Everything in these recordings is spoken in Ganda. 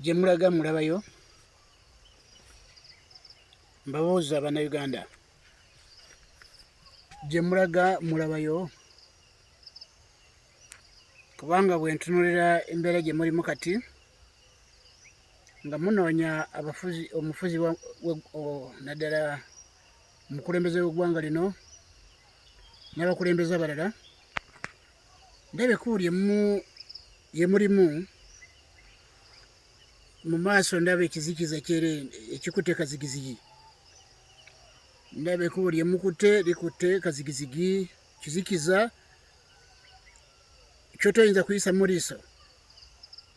gye mulaga mulabayo mbabuuza bannayuganda gye mulaga mulabayo kubanga bwe ntunulira embeera gye mulimu kati nga munoonya abafuzi omufuzi naddala omukulembeze w'eggwanga lino n'abakulembeze abalala ndaba ekkubo lye mulimu mu maaso ndaba ekizikiza kyere ekikutte kazigizigi ndaba ekkubo lye mukutte likutte kazigizigi kizikiza kyotoyinza kuyisa mu liiso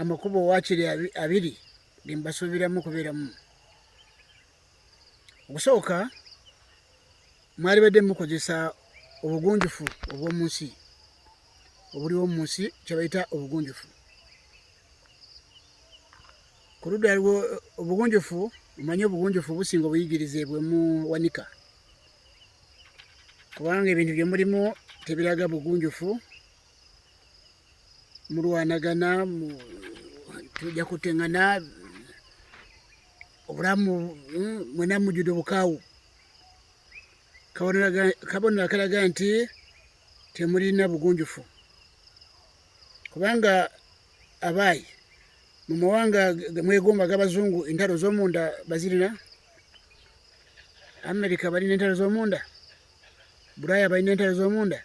amakubo wakiri abiri gembasuubiramu okubeeramu okusooka mwali badde mukozesa obugunjufu obw'omu nsi obuliwo mu nsi kyebayita obugunjufu ku ludda aliwo obugunjufu omanyi obugunjufu businga obuyigirize bwemu wanika kubanga ebintu byemulimu tebiraga bugunjufu mulwanagana tujja kutengana obulamu mm, mwena mujudde obukaawu kabonero akalaga nti temulina bugunjufu kubanga abaayi mu mawanga mwegomba g'abazungu entalo z'omunda bazirina amerika balina entalo z'omunda bulaaya balina entalo z'omunda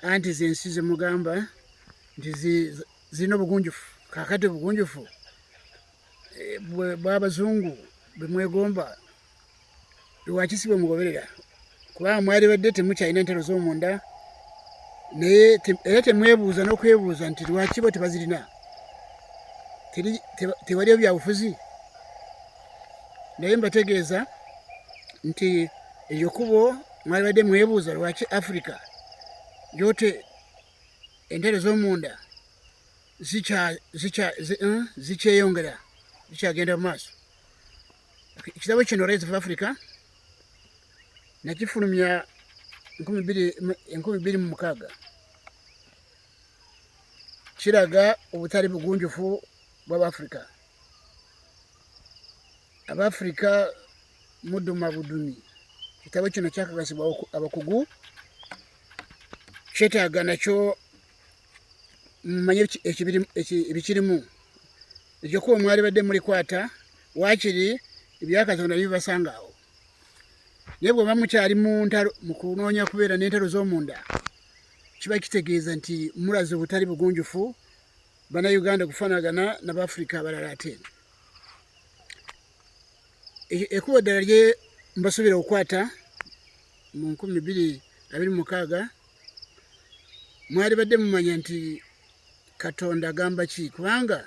anti zensi zemugamba nti zirina obugunjufu kakati obugunjufu eh, bwabazungu bwemwegomba lwaki si bwemugoberera kubanga mwalibadde temukyalina ntalo zomunda naye era temwebuuza n'okwebuuza nti lwaki bo tebazirina tewaliyo byabufuzi naye mbategeeza nti eryo kubo mwalibadde mwebuuza lwaki africa yote entebe z'omunda zikyeyongera eh, zikyagenda mu maaso ekitabo kino rise of africa nakifulumya enkumi bbiri mu mukaaga kiraga obutali bugunjufu bw'abaafrika abafirika muduma budumi kitabo kino kyakakasibwa abakugu kyetaaga nakyo mumanye ebikirimu ekyokuba mwali badde mulikwata wakiri ebyakatonda bibasanga awo naye bweba mukyali muntalo mukunoonya kubeera n'entalo z'omunda kiba kitegeeza nti mulaze obutali bugunjufu bana Uganda kufanagana na bafrika abalala ate e-, ekubo ddala lye mbasubira okukwata mu nkumi biri abiri mukaaga mwali badde mumanya nti katonda agamba ki kubanga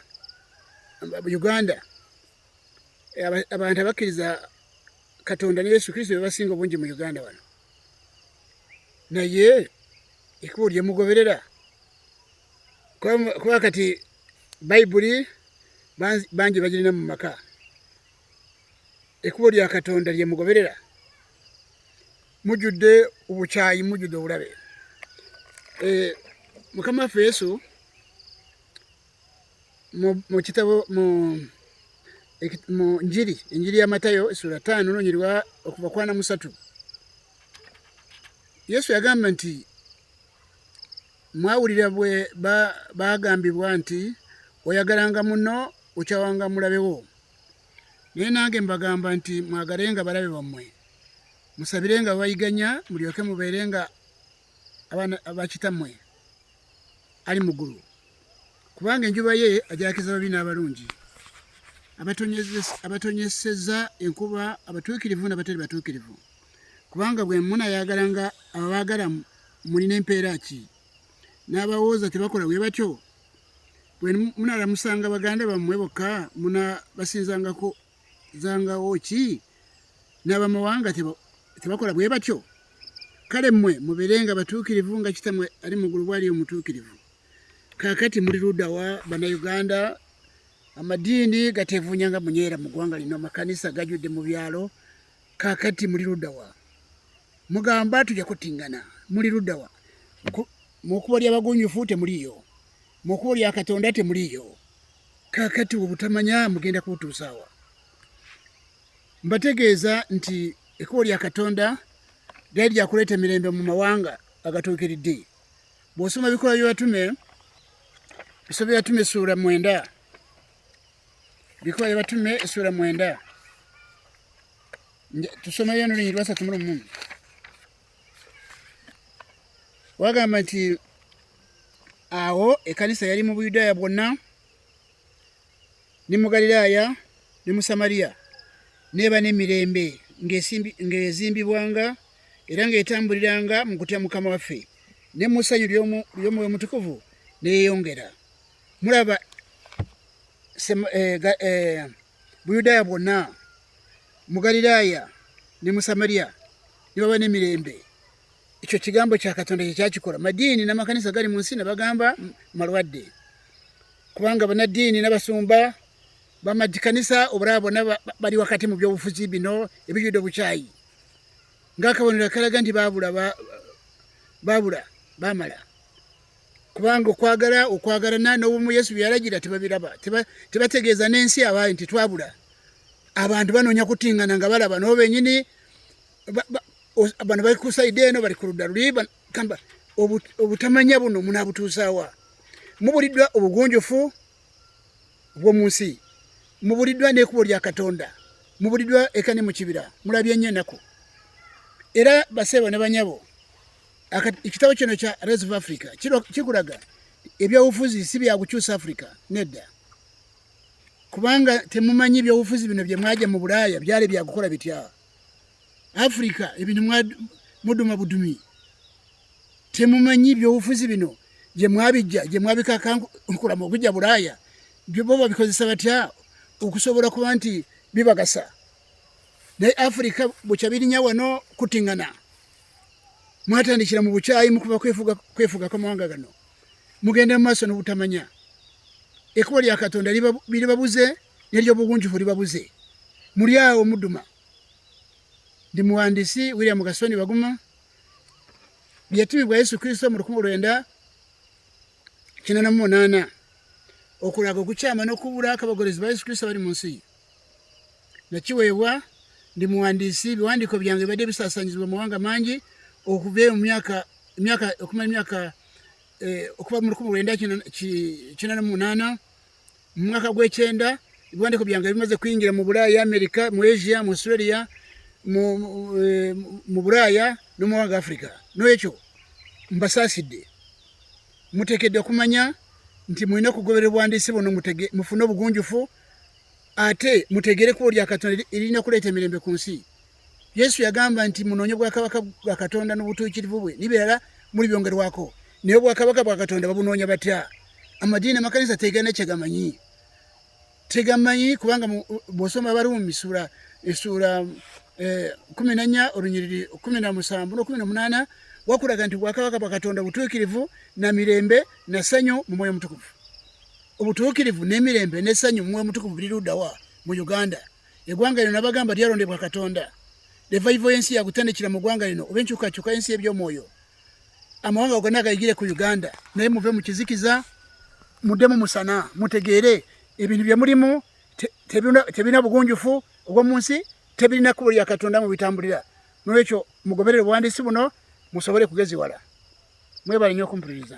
uganda abantu abakkiriza katonda ne yesu kristo bebasinga obungi mu uganda wano naye ekubo lyemugoberera kuba kati bayibuli bangi bagirina mu maka ekkubo lya katonda lye mugoberera mujjudde obukyayi mujjudde obulabe eh, mukama waffe yesu mu kitabo mu njiri enjiri ya matayo esula taano nonyirwa okuva kwana musatu yesu yagamba nti mwawulira bwe baagambibwa nti oyagalanga muno okyawanga mulabewo naye nange mbagamba nti mwagalenga balabe bammwe musabire nga bayiganya mulyoke mubeere nga abakitammwe ali muggulu kubanga enjuba ye ajakiza babi n'abalungi abatonyeseza enkuba abatuukirivu n'abatali batuukirivu ba kubanga bwe munayagala nga ababaagala mulina empeera ki n'abawooza tebakola bwe batyo bwe munalamusanga baganda bammwe bokka munabasinzangako zangawo ki n'abamawanga tebakola bwe batyo kale mmwe mubeere nga batuukirivu nga kitamwe ali mu ggulu bwali omutuukirivu kaakati muli ludawa bannayuganda amadiini gateevuunya nga munyeera mu ggwanga lino amakanisa gajudde mu byalo kakati muli ludawa mugamba tuja kutingana muli ludawa mukubo lya bagunjufu temuliyo mukubo lya katonda temuliyo kakati obutamanya mugenda kutusawa mbategeeza nti ekubo lya katonda lyali lyakuleeta emirembe mu mawanga agatuukiridde bw'osoma ebikolwa by'abatume bisobya tume essuula mwenda Bikola batume esura mwenda tusomeyo n'olunyiriri lwasatu mu lumu wagamba nti awo ekanisa yali mu buyudaaya bwonna ne mu galiraaya ne mu samariya neeba n'emirembe ng'ezimbibwanga era ng'etambuliranga mu kutya mukama waffe ne mu ssanyu ly'omwoyo mutukuvu neyeyongera mulaba eh, eh, buyudaaya bwonna mu galiraaya ne mu samariya ne baba n'emirembe ekyo kigambo kya katonda kye kyakikola madiini n'amakanisa gali mu nsi ne bagamba malwadde kubanga banaddiini n'abasumba bamakanisa obulaba bona bali wakati mu byobufuzi bino ebijudde obukyayi ng'akabonero akalaga nti baabula baabula baamala kubanga okwagala okwagalana n'obumu yesu bye yalagira tebabiraba tebategeeza n'ensi abaayi nti twabula abantu banoonya kutingana nga balaba nabo benyini bano bali ku saidi eno bali ku ludda luli kamba obutamanya buno munabutuusaawa mubuliddwa obugunjufu bw'omu nsi mubuliddwa n'ekubo lya katonda mubuliddwa ekane mu kibira mulabye nnyo enaku era baseebo ne banyabo ekitabo kino kya race of africa kikulaga ebyobufuzi si byakukyusa africa nedda kubanga temumanyi ebyobufuzi bino byemwaja mu bulaaya byali byakukola bitya africa ebintu muduma budumi temumanyi ebyobufuzi bino gyemwabijja gyemwabikakankulamu okujja bulaaya byobo babikozesa batya okusobola kuba nti bibagasa naye africa bukyabirinya wano kutingana mwatandikira mu bukyayi mukuba kwefuga kwamawanga gano mugenda mumaaso nobutamanya ekubo lya katonda liribabuze neryobugunjufu libabuze muli awo muduma ndi muwandisi william gasoni baguma byetumi bwa yesu kristo mu lukumi lwenda kinana mu munaana okulaga okukyama nokubula akabagolezi ba yesu kristo bali mu nsi nakiweebwa ndi muwandiisi ebiwandiiko byange bibadde bisasanyizibwa mu mawanga mangi okuva mu myaka myaka okumala emyaka eh, okuva mu lukumi lwenda kina na munaana mu mwaka gw'ekyenda ebiwandiiko byange bimaze kuyingira mu bulaaya amerika mu asia mu australia mu eh, bulaaya no mu mawanga africa n'ekyo mbasaasidde muteekedde okumanya nti mulina okugoberera obwandiisi buno mufune obugunjufu ate mutegere kubo lya katonda erina kuleta mirembe ku nsi yesu yagamba nti munonye bwakabaka bwa katonda n'obutuukirivu bwe nibeera muli byongerwako naye obwakabaka bwa katonda babunoonya batya amadiini amakanisa tegana kyegamanyi tegamanyi kubanga bwosoma abaruumi sura esuura eh, kumi nanya olunyiriri kumi na musanvu nokumi nomunaana wakulaga nti bwakabaka bwa katonda butuukirivu na mirembe na sanyu mu mwoyo mutukuvu obutuukirivu n'emirembe n'essanyu mumwe omutukuvu buli luddawa mu uganda eggwanga lino nabagamba lyalondebwa katonda levaivo y'ensi yakutandikira mu ggwanga lino oba enkyukakyuka y'ensi eby'omwoyo amawanga gonna agayigire ku uganda naye muve mu kizikiza muddemu musana mutegeere ebintu bye mulimu tebirina bugunjufu obw'omu nsi tebirina kkubo lya katonda mu bitambulira nolwekyo mugoberere obuwandiisi buno musobole kugeziwala mwebale nyo okumpuliriza